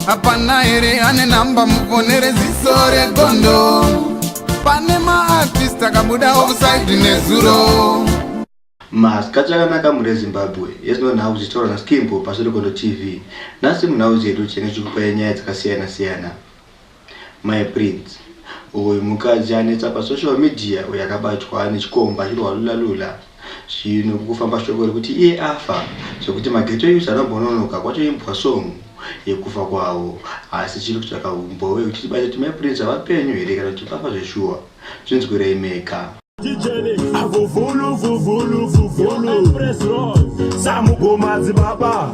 hapana here ane namba mufonere ziso regondo pane maartist akabuda offside nezuro masikati akanaka mhuri yezimbabwe yezvino nhau zvichitaura naskimbo pasvirikondo tv nhasi munhau zvedu tinenge tichikupai nyaya dzakasiyana siyana my prince uyu mukadzi anetsa pasocial media uyo akabatwa nechikomba achirwa lula lula Zvino kufamba shoko rekuti iye afa zvekuti maghetto youths anobhononoka kwacho imbwa song yekufa kwavo asi chiri kutsvaka humboe kuti tibate kuti mai Prince vapenyu here kana kuti vafa zveshuwa zvinzwirei mega. Tijeni avuvulu vuvulu vuvulu Samugoma dzibaba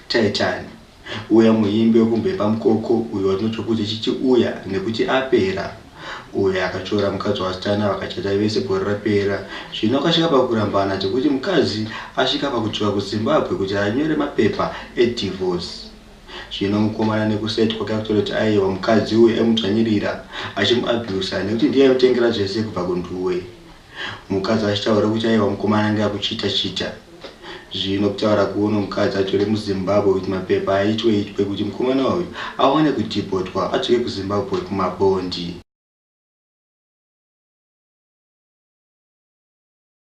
Taitani. Uya muimbi wekumbepa mukoko uyo watinotya kuti Chichi uya nekuti apera uyo akatora mukadzi waStana vakachata vese gore rapera zvino akasvika pakurambana zvekuti mukadzi asvika pakudzoka kuZimbabwe kuti anyore mapepa edivorce zvino mukomana nekuside kwake akutoti aiwa mukadzi uyu aimudzvanyirira achimuabuser nekuti ndiye aimutengera zvese kubva kuNdue Mukadzi achitaura kuti aiwa mukomana anga akuchita chita zvino kutaura kuno mukadzi atore muzimbabwe with mapepa aitwe itwe kuti mukomana uyu awane kudhibhotwa adzoke kuzimbabwe kumabhondi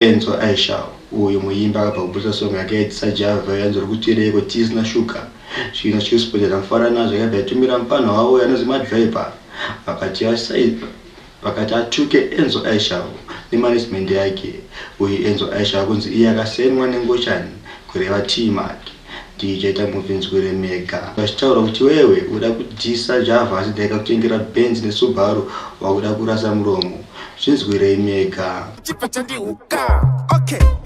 Enzo Aisha uyu muimbi akabva kuburitsa song yake yaitisa Java yanzori kutireiko Tease na Sugar zvino Chillspot yakamfara nazvo yakabva yatumira mupfanha wavo yanonzi Madriver vakati asai Vakati atuke Enzo Aishavo nemanagement yake uyu Enzo Aishavo kunzi iye akasainwa nengochani kureva Tee Mac ndiyo ichaita movie nzwire mega vachitaura kuti iwewe uda kudyisa Java asi ndaikakutengera Benz neSubaru wakuda kurasa muromo zvinzwirei mega. Chibva chandihuka okay.